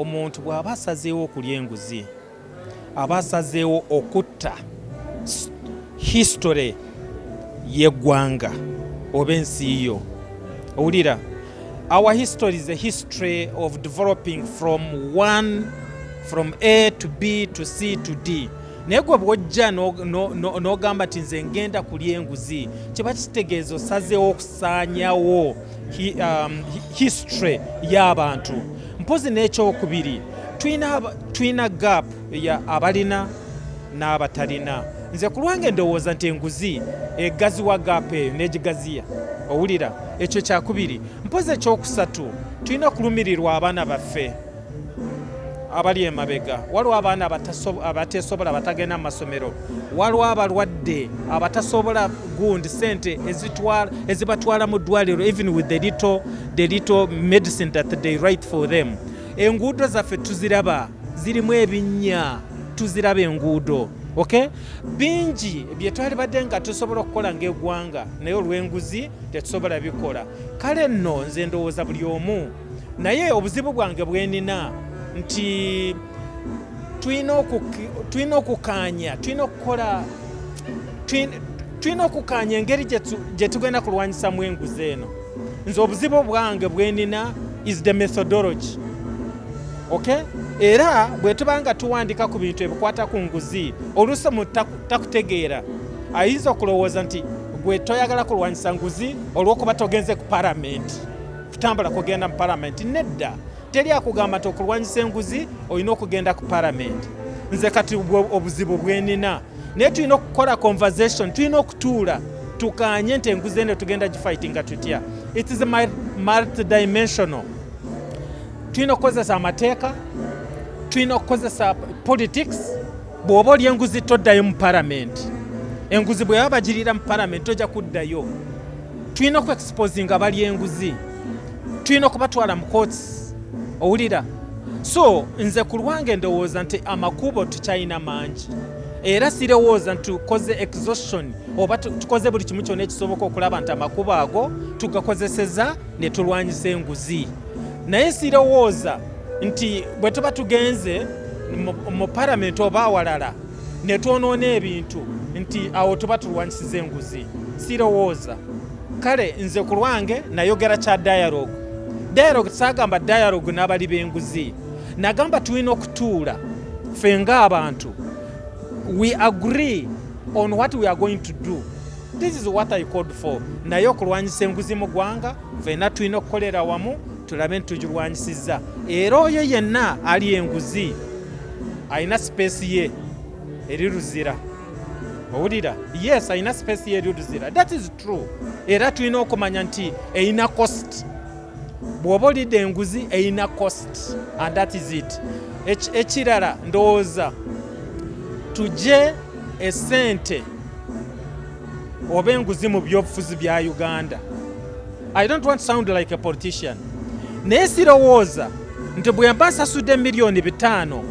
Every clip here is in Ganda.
Omuntu bw'aba asazeewo okulya enguzi aba asazeewo okutta history y'eggwanga oba ensi yo owulira our history is a history of developing from one from a to b to c to d naye gwe bwojja n'ogamba nti nze ngenda kulya enguzi kiba kitegeeza osazeewo okusaanyawo um, history y'abantu mpozi n'ekyokubiri tulina gap ya abalina n'abatalina nze ku lwange ndowooza nti enguzi egaziwa gap eyo n'egigaziya owulira ekyo kyakubiri mpozi ekyokusatu tulina okulumirirwa abaana baffe abali emabega waliwo abaana abateesobola abatagenda mu masomero waliwo abalwadde abatasobola gundi sente ezibatwala mu ddwaliro even with the little, the little medicine that they write for them enguudo zaffe tuziraba zirimu ebinnya tuziraba enguudo okay bingi byetwali badde nga tusobola okukola ngaegwanga naye olwenguzi tetusobola bikola kale nno nze ndowooza buli omu naye obuzibu bwange bwenina nti tulina okukaanya tulina okukola tulina okukaanya engeri gye tugenda kulwanyisamu enguzi eno nze obuzibu bwange bwenina is the methodology okay era bwe tuba nga tuwandika ku bintu ebikwata ku nguzi oluusi mu takutegeera ayinza okulowooza nti gwe toyagala kulwanyisa nguzi olw'okuba togenze ku paramenti Kutambula kugenda mu palamenti nedda, teri akugamba nti okulwanyisa enguzi olina okugenda ku palamenti. Nze kati obuzibu bwenina naye tulina okukola conversation, tulina okutuula tukanye nti enguzi eno tugenda gifightinga tutya. It is multidimensional. Tulina okukozesa amateeka, tulina okukozesa politics bw'oba oli enguzi toddayo mu palamenti enguzi bwe baba bagirira mu palamenti tojja kuddayo tulina okuexposinga bali enguzi tulina okubatwala mu kooti owulira so nze ku lwange ndowooza nti amakubo tukyalina mangi era sirowooza nti tukoze exhaustion oba tukoze buli kimu kyona ekisoboka okulaba nti amakubo ago tugakozeseza ne tulwanyisa enguzi naye sirowooza nti bwe tuba tugenze mu paramenti oba awalala ne twonoona ebintu nti awo tuba tulwanyisiza enguzi sirowooza kale nze ku lwange nayogera kya dialogue dialogue saagamba dialogue n'abali b'enguzi nagamba tulina okutuula ffe ng'abantu we agree on what we are going to do this is what i called for naye okulwanyisa enguzi mu ggwanga fena tulina okukolera wamu tulabe nti tugirwanyisizza era oyo yenna ali enguzi alina sipeesi ye eri luzira owulira yes alina sipeesi ye eri luzira that is true era tulina okumanya nti erina cost bw'oba olidde enguzi erina cost and that is it ekirala ndowooza tugye esente oba enguzi mu byobufuzi bya uganda i don't want sound like a politician naye sirowooza nti bwemba nsasudde miliyoni bitaano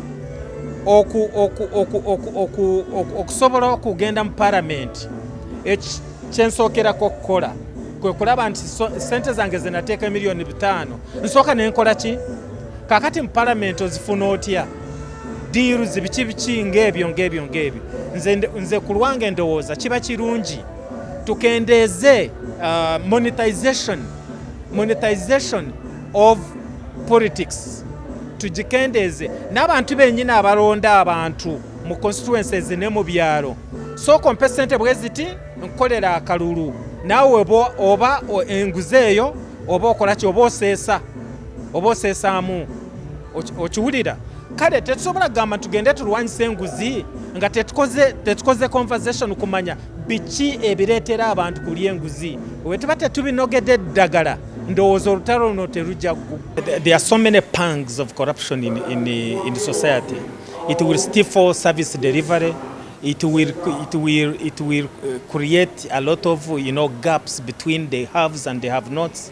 okusobola okugenda mu paramenti kyensookerako okukola kwe kulaba nti sente zange zenateeka emiliyoni bitaano nsooka nenkola ki kakati mu paramenti ozifuna otya deals biki biki ng'ebyo ng'ebyo ng'ebyo nze, nze ku lwange ndowooza kiba kirungi tukendeeze uh, monetization monetization of politics tugikendeeze n'abantu bennyini abalonda abantu mu constituences ne mu byalo sooka ompe sente bwe ziti nkolera akalulu naawe oba enguzi eyo oba okola ki oba oseesa oba oseesaamu okiwulira kale tetusobola kugamba tugende tulwanyisa enguzi nga tetukoze tetukoze conversation kumanya biki ebireetera abantu kulya enguzi wetuba tetubinogedde eddagala ndowooza olutalo luno terujja there are so many pangs of corruption in, in, in the society it will stifle service delivery it will, it will, it will uh, create a lot of you know, gaps between the haves and the have nots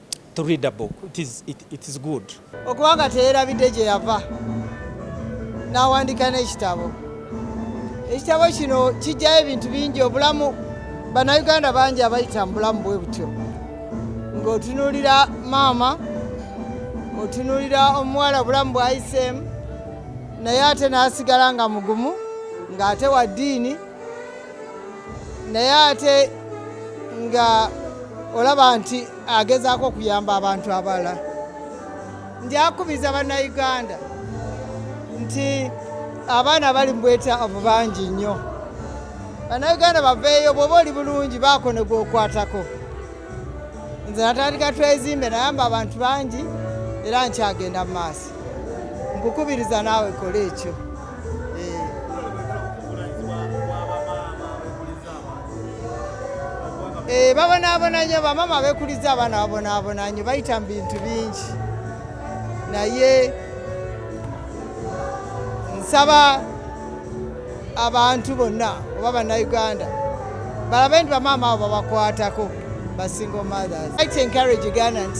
to read a book it is, it, it is good okuba nga teyerabidde gye yava n'awandika n'ekitabo ekitabo kino kijjayo ebintu bingi obulamu bannayuganda bangi abayita mu bulamu bwe butyo ng'otunuulira maama otunuulira omuwala obulamu bwayiseemu naye ate n'asigala nga mugumu ng'ate wa ddiini naye ate nga olaba nti agezaako okuyamba abantu abalala njakubiza bannayuganda nti abaana bali mubwetaavu bangi nnyo bannayuganda baveeyo bwoba oli bulungi baako ne gwokwatako nze natandika twezimbe nayamba abantu bangi era nkyagenda mu maaso nkukubiriza naawe kola ekyo Eh, babonaabona nyo bamama abekuliza abaana babonaabona nyo bayita mu bintu bingi naye nsaba abantu bonna oba bannayuganda balabe nti bamaama abo babakwatako basingle mothers i encourage ugandans